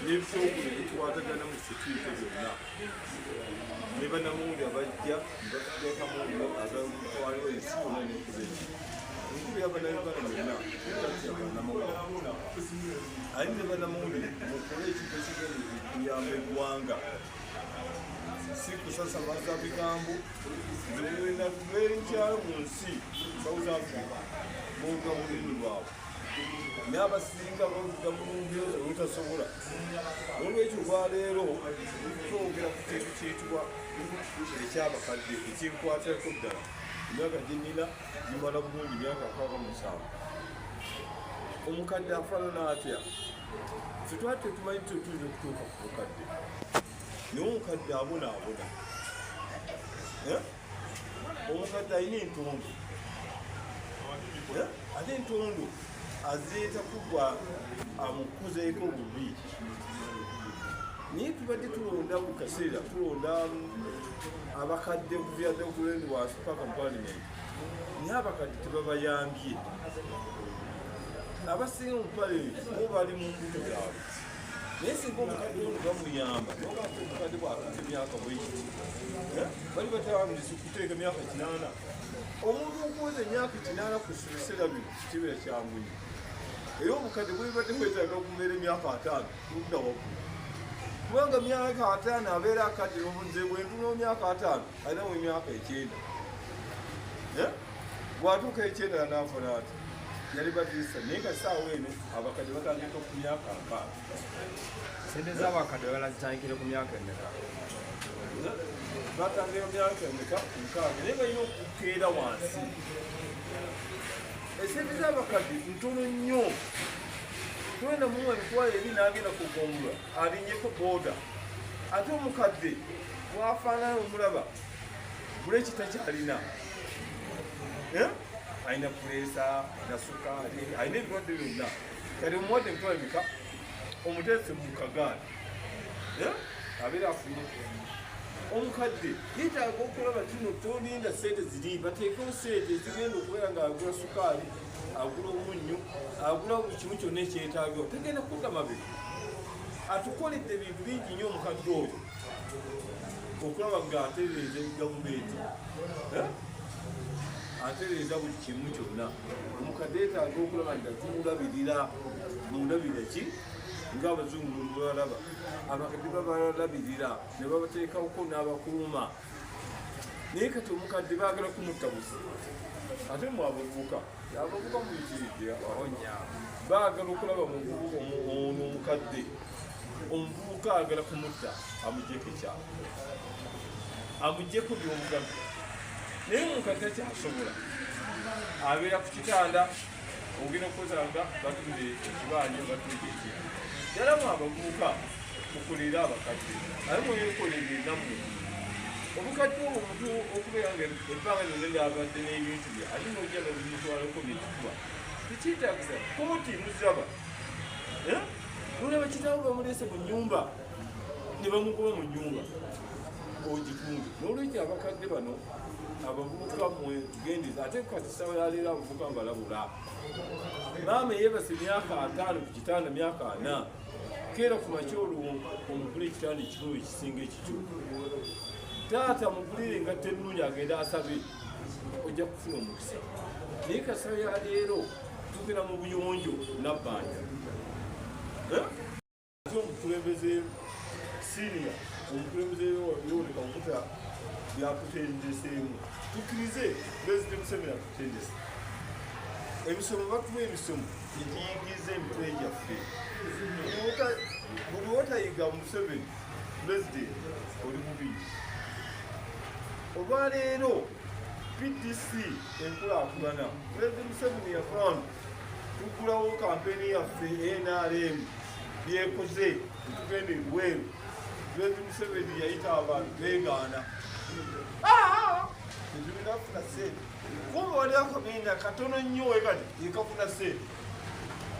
n'ebitongole ebikwatagana mu sekiite byonna ne banamawulire abajja nebatutekamu agatwaliwo ensi yonna nekuba eki enkulu yabanayuganda byonna tatya banamawulire ali ne banamawulire mukole ekintu ekigenda okuyamba eggwanga si kusasamaza bigambo newena lwenkya mu nsi south africa boga mulimi lwabwe n'abasinga bavuga mu lumbiro olutasobola olwekyo olwaleero twogera ku kintu kyitibwa ekyabakadde ekinkwatako ddala emyaka gyenina gimala bulungi myaka akaba musanvu omukadde afaanana atya ffe twali tetumanyi nti tuyinza okutuuka ku bukadde naye omukadde abona abona eh? omukadde alina entondo eh? ate entondo azireeta kugwa amukuzeeko bubi naye tubadde tulonda mu kaseera tulonda abakadde kuviadde okulendi wansi paka mu palimenti naye abakadde tebabayambye abasinga omupale bo bali mu mbuto zaabwe naye singa omukadde ono bamuyamba nobamukadde bwakata emyaka bwekiti eh? bali batawamiriza okuteeka emyaka kinaana omuntu okuweza emyaka kinaana ku biseera bino kibeera kyanguyi era omukadde bwebadde kwetaaga okubeera emyaka ataano ludda waggulu kubanga myaka ataano abeera akadde nomuze bwentunao myaka ataano alina mu myaka ekyenda bwatuuka ekyenda nanafuna ati yali badirisa naye nga saawa eno abakadde batandika ku myaka mpaa sente zabakadde balazitandikire ku myaka emeka batandika ku myaka emeka mukaaga naye balina okukeera wansi esente zabakadde ntono nnyo twenda muwa emitwalo ebi nagenda kugongula alinyeko boda ate omukadde bwafaanana omulaba buleki takyalina eh? alina puleesa alina sukaali alina ebirwadde byonna kati omuwadde emitwalo mika omuteese mu kagaali eh? abeera afunye omukadde yetaaga okulaba kino tolinda sente ziri bateekewo sente ezigenda okubeera nga agula sukaali agula omunnyo agula buli kimu kyonna ekyetaageo tegenda kudda mabega atukoledde ebintu bingi nnyo omukadde oyo okulaba nga atereeza egavumenti eh? atereeza buli kimu kyonna omukadde yetaaga okulaba nti atumulabirira mundabira ki nga abazungu bwebalaba abakadde babalabirira ne babateekawoko n'abakuuma naye kati omukadde baagala kumutta busi ate mwabavuka abavuba muyitiridde baagala okulaba ono omukadde omuvubuka agala kumutta amugyeko ekyalo amugyeko byobugano naye omukadde takyasobola abeera ku kitanda ogenda okukozanga batunde ekibanja batunde ekira yalamu abavubuka mukolere abakadde aye mweyekolere enamu obukadde obwo omuntu okubeera nga ebbanga lyonna lyabadde n'ebintu ali nojja nomutwalako bituba tekyetagisa koti muzaba eh? nolaba kitawo bamulese mu nyumba nebamukuba mu nyumba ogitundu nolwekyo abakadde bano abavubuka mwe tugendeza ate kukatisawa yaleero abavubuka mbalabula maama eyebase myaka ataano ku kitanda myaka ana keera ku makya oluwo omugula ekitanda ekikulu ekisinga ekikyo taata mugulire engatto ennungi agende asabe ojja kufuna omukisa naye kasaba ya leero tugera mu buyonjo nabbanja omukulembeze siria omukulembeze yoleka okuta yakutendeseemu tukirize pulezidenti museveni yakutendese emisomo batuwa emisomo egiyingiza emitwe gyaffe buli wotayiga museveni pulezidenti oli mubiiri olwaleero pdc enkulaakulana pulezidenti museveni yafran tuggulawo kampeni yaffe nrm byekoze etugenda ebweru pulezidenti museveni yayita abantu begaana ebirinafuna sente kuba waliakomenda katono nnyo wekati yekafuna sente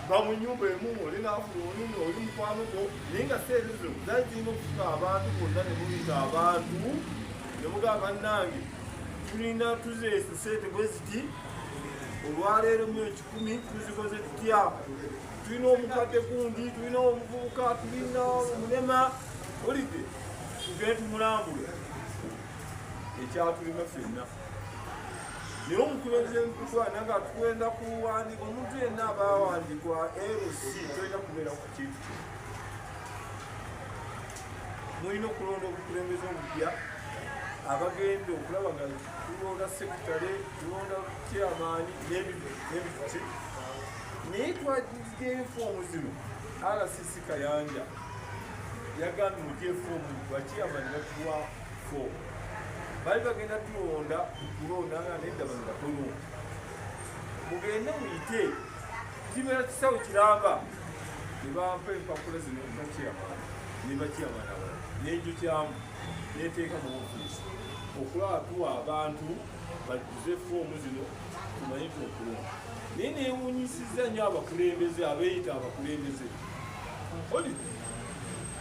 va mu nyumba emu oli nafuna olunga oli mukwano gwo naye nga seeri zino zali zirina okufuka abantu bonna ne muyita abantu ne mugamba nange tulina tuzeesa sente bwe ziti olwaleero mu ekikumi tuzikoze tutya tulina omukadde gundi tulina omuvubuka tulina omulema olidde tugende tumulambule ekyatulima fenna naye omukulembeze mukulu ana nga tukwenda kuwandiika omuntu yenna abawandikwa lc tolina kubeera ku kintu kino mulina okulonda obukulembeze obupya abagenda okulaba nga tulonda sekitale tulonda kyamaani nebituki naye twagiga enfuomu zino rcc kayanja yagambye ojefuomu bakyamaani batuwa fo bali bagenda tulonda kulondanga nedda bano batono mugende muyite kibeera kisawo kiramba nebampa empapula zino bakiyamana nebakiyamana wala nenjukyamu neteeka mu ofiisi okulaba tuwa abantu bajuze foomu zino tumanye tuokulonda naye newunyisiza nyo abakulembeze abeyita abakulembeze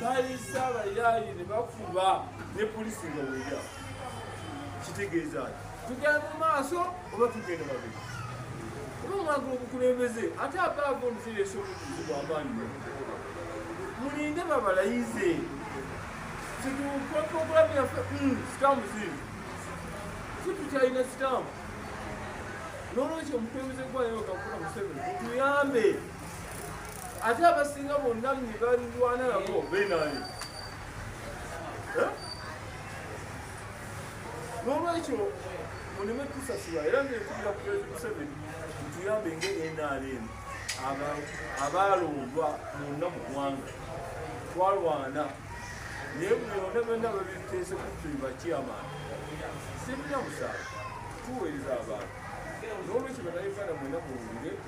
balisa abayaaye ne bafuba ne polisi nga weya kitegeeza ti tugenda mu maaso oba tugenda babiri oba mwagala obukulembeze ate abaaga omuseresa obutuzi bwabanyi mulinde babalayize situkoprogramu yaffe hmm, sitamu ziri situkyalina sitamu n'olwekyo omukulembeze gwayoka kula museveni tuyambe ate abasinga bonna nebalwana nabo benani eh? nolwekyo muleme tusasula era nekubira president museveni mutuyambe nga nrm abaalondwa munna mu gwanga twalwana naye buli yonna byonna babiteese kutuli bakyamaani sibina musango tuweereza abantu nolwekyo banauganda mwena muwulire